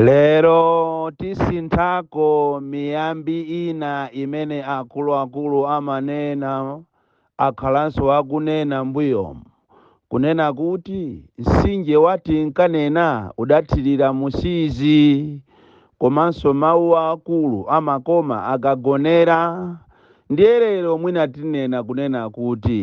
Lero tisinthako miyambi ina imene akuluakulu amanena, akhalanso akunena mbuyomu, kunena kuti mtsinje wa tinkanena udathirira mu Siizi komanso mau aakulu amakoma akagonera ndiye lero mwina tinena kunena kuti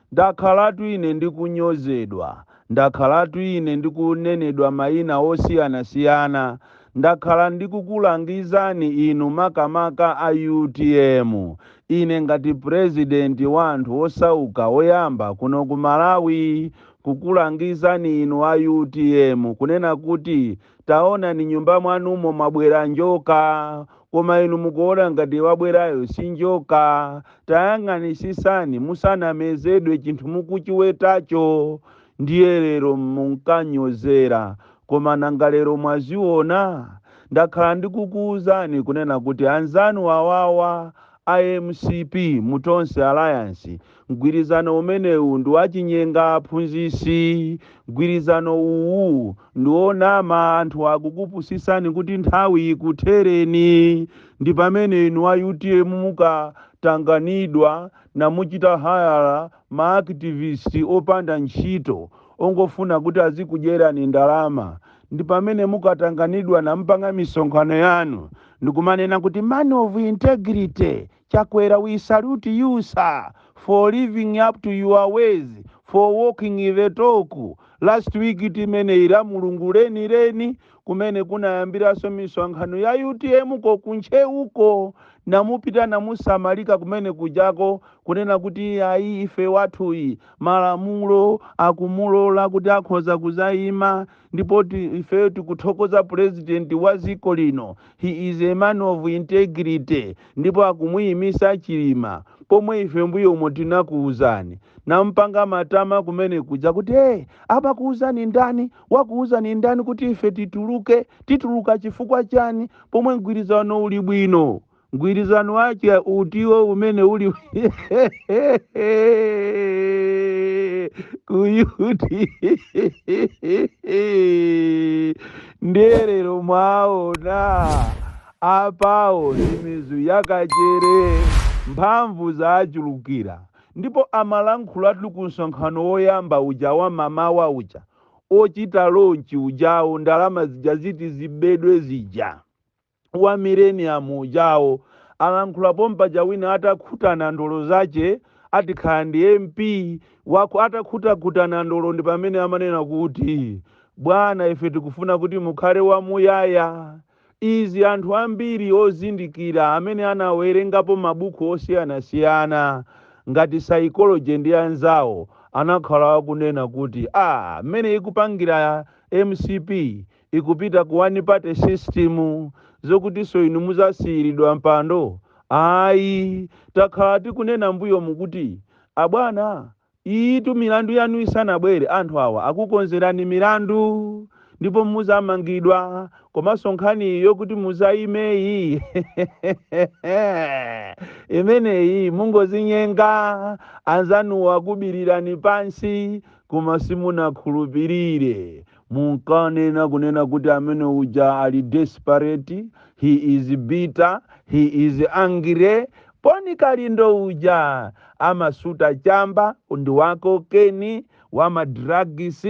Ndakhalatu ine ndikunyozedwa, ndakhalatu ine ndikunenedwa maina osiyanasiyana, ndakhala ndikukulangizani inu makamaka a utm, ine ngati Purezidenti wa anthu osauka oyamba kuno ku Malawi, kukulangizani inu a utm kunena kuti, taonani nyumba mwanumo mwabwera njoka koma inu mukuona ngati wabwerayo si njoka tayang'anisisani musanamezedwe chinthu mukuchiwetacho ndiye lero munkanyozera koma nanga lero mwaziona ndakhala ndikukuwuzani kunena kuti anzanu awawa a mcp mu Tonse Alliance Mgwirizano umenewu ndi wachinyenga aphunzitsi mgwirizano uwu ndi onama anthu akukupusisani kuti nthawi ikuthereni ndi pamene inu a utm mukatanganidwa namuchita hire ma activist opanda ntchito ongofuna kuti azikudyerani ndalama ndi pamene mukatanganidwa nampanga misonkhano yanu ndikumanena kuti man of integrity Chakwera we salute you sir for living up to your words for walking the talk last week timeneyi la mulungu leni leni kumene kunayambiranso misonkhano ya utm ko ku Ntcheuko namupita namusamalika kumene kujako kunena kuti ayi ife wathuyi malamulo akumulola kuti akhoza kuzayima ndipo ife tikuthokoza purezidenti wa dziko lino he is a man of integrity ndipo akumuyimisa chilima pomwe ife mbuyomo tinakuuzani nampanga matama kumene kuja kuti hey, amakuuzani ndani wakuuzani ndani kuti ife tituluke tituluka chifukwa chani pomwe mgwirizano uli bwino mgwirizano wake utiwo umene uli kuyuti nde lero mwaona Apawo ndi mizu ya kachere, mphamvu zawachulukira ndipo amalankhulatu ku msonkhano woyamba uja wa mamawa uja ochita launch ujawo ndalama zija ziti zibedwe zija wa millennium ujawo alankhula pompaja wina atakhuta nandolo zache ati kaya ndi MP waku atakhutakhuta nandolo ndi pamene amanena kuti bwana ife tikufuna kuti mukhale wamuyaya Izi anthu ambiri ozindikira amene anawerengapo mabuku osiyanasiyana ngati Psychology ndi anzawo anakhala akunena kuti ah mmene ikupangira mcp ikupita ku one party system zokutinso inu muzasiyiridwa mpando ayi takhala tikunena mbuyomu kuti abwana Izitu milandu yanu isanabwere anthu awa akukonzerani milandu ndipo muzamangidwa komanso nkhaniyi yokuti muzayimeyi imeneyi mukungozinyenga anzanuwo akubilirani pansi koma simunakhulupilire. Munkanena kunena kuti amene uja ali desperate, he is bitter, he is angry, Boni Kalindo uja amasuta chamba, ndi wa kokeni, wa ma drugs,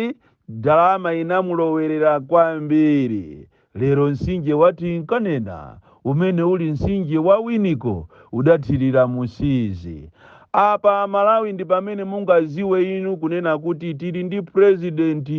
ndalama inamulowelera kwambiri. Lero mtsinje wa Tinkanena umene uli mtsinje wa Winiko udathirira mu Siizi. Apa amalawi ndi pamene mungaziwe inu kunena kuti tili ndi president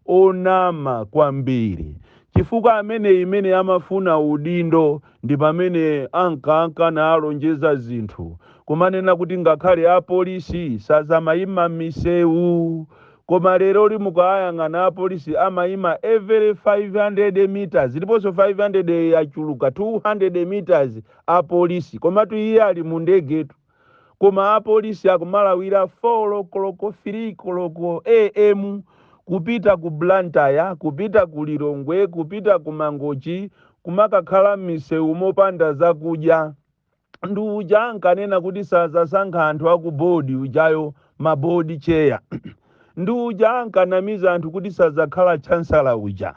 onama kwambiri chifukwa ameneyi mene amafuna udindo ndi pamene ankanka nalonjeza zinthu kumanena kuti ngakhale apolisi sazamaima mmiseu Koma leroli mukawayang'ana apolisi amayima every 500 meters ndiponso 500 yachuluka 200 meters apolisi komatu iye ali mu ndegetu koma apolisi akumalawira 4 koloko 3 koloko am kupita ku Blantyre kupita ku Lilongwe kupita ku Mangochi kumakakhala m'misewumo opanda zakudya. Ndi uja ankanena kuti sadzasankha anthu a ku board ujayo ma board chair. Ndi uja ankanamiza anthu kuti sadzakhala chancellor uja.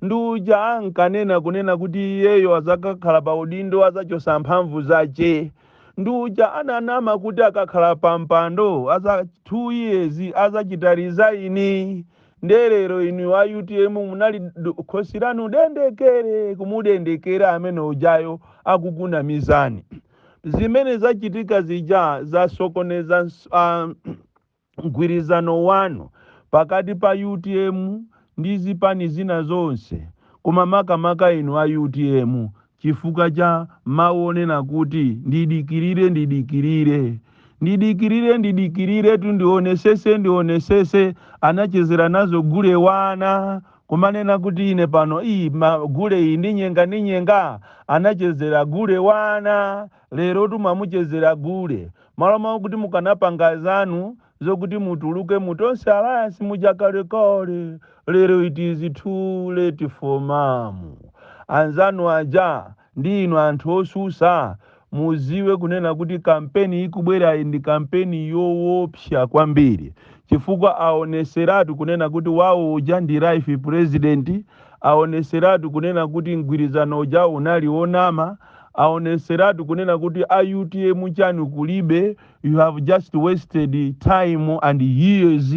Ndi uja ankanena kunena kuti iyeyo azakakhala pa udindo azachosa mphamvu zache. Ndi uja ananama kuti akakhala pa mpando aza 2 years azachita resign. nde lero inu wa utm munali do- khosi lanu dendekere kumudendekera amene ujayo akukunamizani zimene zachitika zija zasokoneza ns- ah, mgwirizano wanu pakati pa utm ndi zipani zina zonse koma makamaka inu a utm chifukwa cha mawonena kuti ndidikirire ndidikirire ndidikirire ndidikirire tu ndionesese ndionesese anachezera nazo gule wana kumanena kuti ine pano iyi ma- gule iyi ndinyenga ndinyenga anachezera gule wana lero tu mwamuchezera gule m'malo mwa kuti mukanapanga zanu zokuti mutuluke mu tonse alliance muja kalekale lero it is too late for mamu anzanu aja ndi inu anthu osusa muziwe kunena kuti kampeni ikubwerayi ndi kampeni yowopsa kwambiri chifukwa aoneseratu kunena kuti wawo uja ndi life president aoneseratu kunena kuti mgwirizano uja unali onama aoneseratu kunena kuti a utm chanu kulibe you have just wasted time and years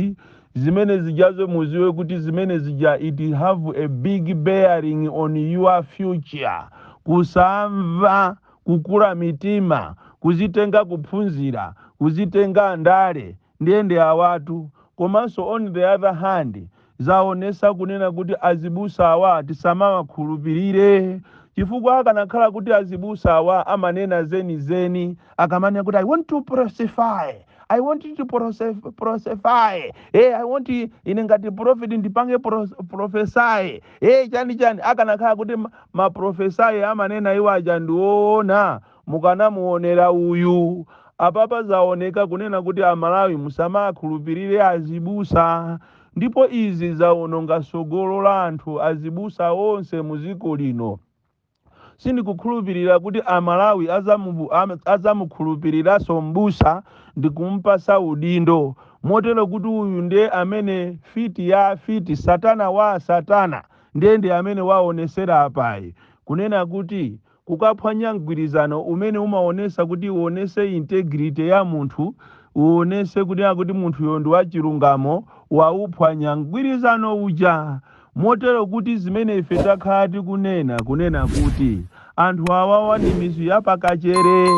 zimene zijazo muziwe kuti zimene zija it have a big bearing on your future kusamva kukula mitima kuzitenga kuphunzira kuzitenga ndale ndiyende awatu komanso on the other hand Zaonesa kunena kuti azibusa awa tisamawakhulupilire chifukwa akanakhala kuti azibusa awa amanena zenizeni akamanena kuti I want to prosefy I want to prosef- prosefy eh, I want ine ngati prophet ndipange pros- prophesy eh, chani chani akanakhala kuti ma- maprophecy amanena iwo aja ndi oona mukanamuonera uyu apapa zaoneka kunena kuti amalawi musamakhulupirire azibusa ndipo izi zawononga tsogolo la anthu azibusa onse mu dziko lino. Sindikukhulupilira kuti a Malawi adzamukhulupiliranso m'busa ndikumupatsa udindo, motero kuti uyu nde amene fiti ya fiti, satana wa asatana nde ndi amene waonetsera apayu, kunena kuti kukaphwanya mgwirizano umene umaonesa kuti uonese integrity ya munthu uonese kunena kuti munthuyo ndi wachilungamo wauphwanya mgwirizano uja motero kuti zimene ife takhala tikunena kunena kuti anthu awawa ndi mizu ya pakachere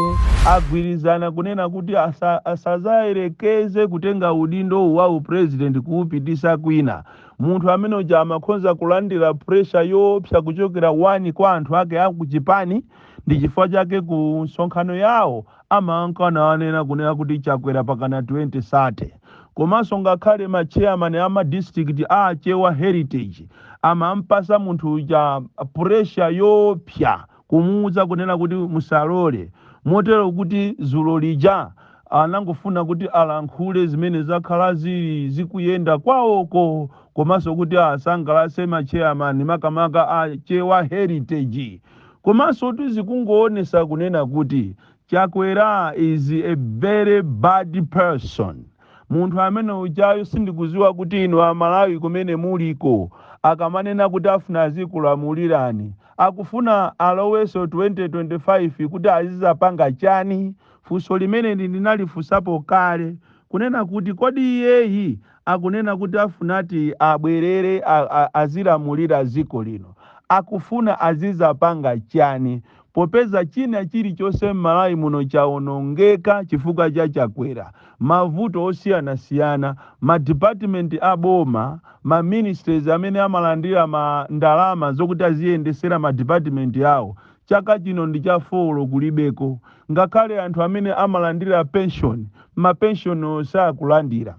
agwirizana kunena kuti asa, asazayerekeze kutenga udindo wa upresident kuupitisa kwina Munthu amene uja amakhonza kulandira pressure yoopsa kuchokera one kwa anthu ake a kuchipani ndi chifukwa chake ku msonkhano yawo amanka nawanena kunena kuti Chakwera pakana 2030. Komanso ngakhale ma chairman a ma district a Achewa Heritage amampasa munthu uja pressure yoopsa kumuuza kunena kuti musalole, motero kuti dzulo lija anangofuna kuti alankhule zimene zakhala zili zikuyenda kwawoko komanso kuti asangalatse ma chairman makamaka a Chewa Heritage. Komansotu zikungoonetsa kunena kuti Chakwera is a very bad person. Munthu amene ujayu sindikuziwa kuti inu a Malawi kumene muliko akamanena kuti afuna azikulamulirani akufuna aloweso 2025 kuti azizapanga chani? Funso limeneli ndinalifunsapo kale kunena kuti kodi iyeyi akunena kuti afunati abwerere a a azilamulira ziko lino akufuna azizapanga chani? Popeza china chilichonse m'Malawi muno chaonongeka chifukwa cha Chakwera, mavuto osiyanasiyana, ma department a boma, ma ministries amene amalandira ma ndalama zokuti aziyendesera ma department awo chaka chino ndi cha folo kulibeko. Ngakhale anthu amene amalandira pension, ma pension awo sakulandira.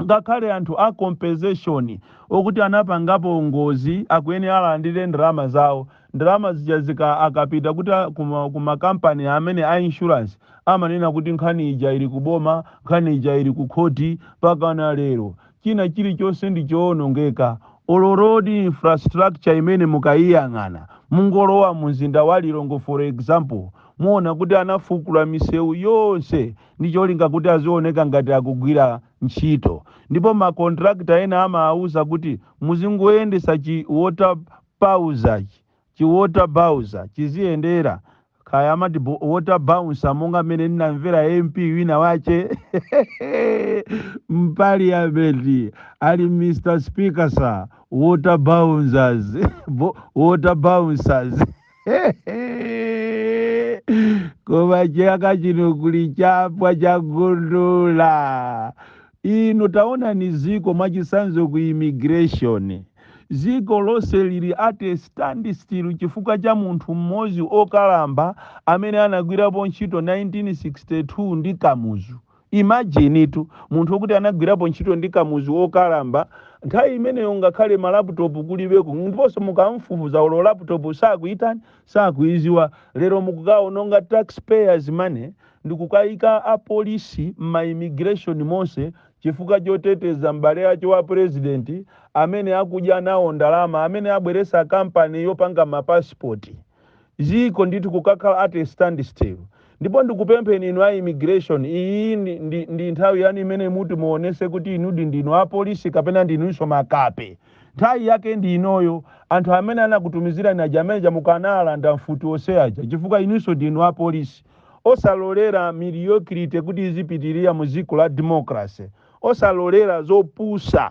ngakhale anthu a compensation okuti anapangapo ngozi akuyenera alandire ndalama zawo, ndalama zija zika akapita kuti a kuma kuma company amene a insurance amanena kuti nkhani ija ili ku boma, nkhani ija ili ku khoti, pakana lero china chilichonse ndi choonongeka, olo road infrastructure imene mukaiyang'ana mungolowa mu mzinda wa Lilongwe for example muona kuti anafukula misewu yonse ndi cholinga kuti azioneka ngati akugwira ntchito ndipo ma contractor ena amaauza kuti muzingoyendesa chi water bowser chi chi water bowser chiziyendera kaya amati bo- water bouncer monga mmene ndinamvera mp wina wache mpaliyamenti ali mr speaker sir water bouncers Bo- water bouncers koma chaka chino kuli chapwa chagundula inu taonani ziko mwachisanzo ku immigration ziko lonse lili at a standstill chifukwa cha munthu mmodzi okalamba amene anagwirapo ntchito 1962 ndi kamuzu Imagine tu munthu okuti anagwirapo ntchito ndi Kamuzu okalamba, nthawi imeneyo ngakhale ma laptop kulibeko ndiponso mukamfufuza olo laptop sakuitani, sakuiziwa, lero mukukaononga tax payers money ndikukaika apolisi mma immigration monse chifukwa choteteza m'bale ache wa president amene akudya nawo ndalama, amene abweresa company yopanga ma passport. dziko ndithu kukakhala at a standstill ndipo ndikupempheni inu a immigration iyi ndi, ndi, ndi nthawi yanu imene muti muonese kuti inudi ndinu apolisi kapena ndinunso makape nthawi yake ndi inoyo anthu amene anakutumizirani aja amene aja mukanawalanda mfuti onse aja chifukwa inunso ndinu apolisi osalolera mediocrity kuti izipitirira mu dziko la democracy osalolera zopusa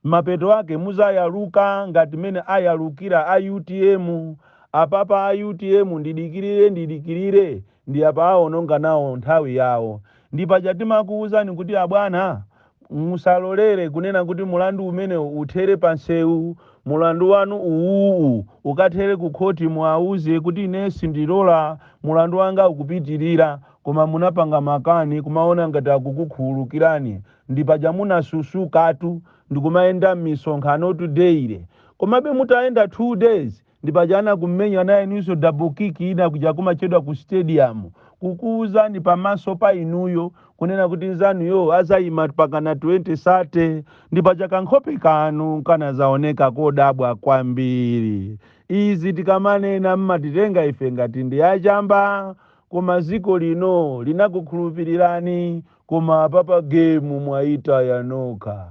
mapeto ake muzayaluka ngati mene ayalukira a utm apapa a utm ndidikilire ndidikilire ndi apa aononga nawo nthawi yawo ndi paja timakuuzani kuti abwana musalolere kunena kuti mulandu umenewu uthere pa nsewu mulandu wanu uwuwu ukathere ku khoti muwauze kuti ine sindilola mulandu wanga ukupitilira koma munapanga makani kumaona ngati akukukhululukirani Ndi paja munasusukatu ndikumayenda mmisonkhanotu daily. Komabe mutayenda 2 days ndi paja anakumenyani inunso double kick ina kuja kumatchedwa ku stadium kukuuzani pamaso pa inuyo kunena kuti nzanuyo azayima mpakana 2030 ndi paja kankhope kanu kanazaoneka kodabwa kwambiri. Izi tikamanena mmatitenga ife ngati ndi achamba koma dziko lino linakukhulupilirani. Koma apapa game mwaitaya nokha.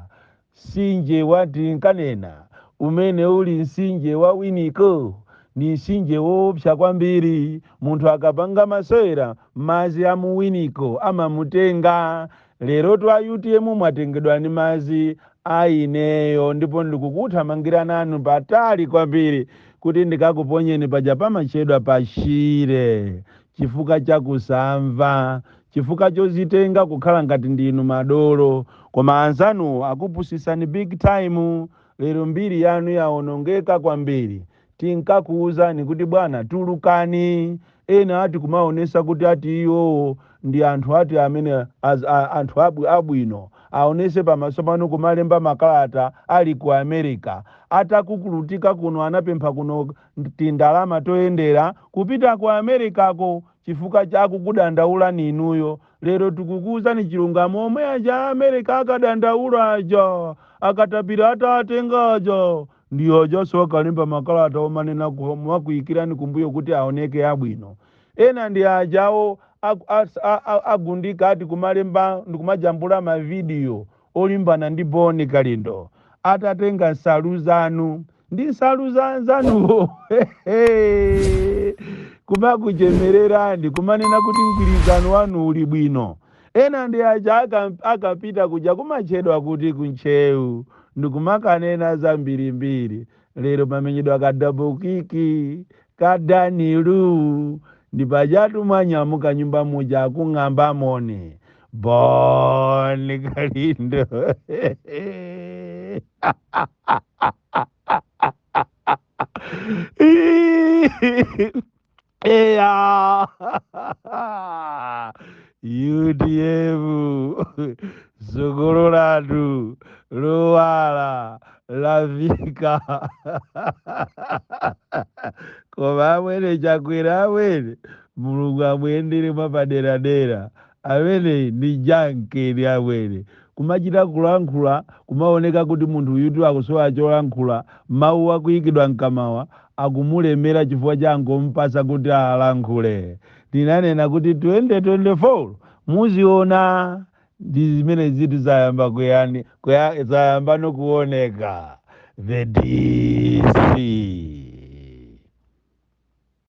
Nsinje wa tinkanena umene uli nsinje wa winiko ndi nsinje woopsa kwambiri. Munthu akapanga masewera madzi a mu winiko amamutenga. Lerotu a utm mwatengedwa ndi madzi a ineyo ndipo ndikukuthamangira nanu patali kwambiri kuti ndikakuponyeni paja pamatchedwa pa Shire. chifukwa cha kusamva, chifukwa chozitenga kukhala ngati ndinu madolo, koma anzanuwo akupusitsani big time, lero mbiri yanu yaonongeka kwambiri, tinkakuuzani kuti bwana tulukani, ena ati kumaonesa kuti ati iwowo ndi anthu ati amene az, a, anthu abwi, abwino, aonese pamaso panu kumalemba makalata ali ku America, atakukulutika kuno anapempha kuno tindalama toyendera kupita ku Americako chifukwa chakukudandaulani inuyo. Lero tikukuuzani chilungamo omwe aja a America akadandaula aja, akatapira atawatenga aja, ndi ajanso akalemba makalata omanena ku- omakuikirani kumbuyo kuti aoneke abwino. Ena ndi ajawo aku- as- a- a- agundika ati kumalemba ndikumajambula mavidiyo olimbana ndi Boni Kalindo atatenga nsalu zanu ndi nsalu za anzanuwo kumakuchemererani kumanena kuti mgwirizano wanu uli bwino ena ndi aja aka- akapita kuja kumatchedwa kuti ku Ntcheu ndikumakanena zambirimbiri lero pamenyedwa ka double kick Kadanilu, ndi pajatu mwanyamuka nyumba muja akung'amba moni Bon Kalindo. Eya. UTM tsogolo lathu lowala lafika koma amwene chakwera amwene mulungu amuyendere mwapaderadera amene ndi jankeni amwene kumachita kulankhula kumaoneka kuti munthu uyutu akusowa cholankhula mawu akuyikidwa mkamawa akumulemera chifukwa cha angompasa kuti alankhule Ndinanena kuti 2024 muziona ndi zimene zinthu zayamba kuyani kuya, zayambano kuoneka the DC.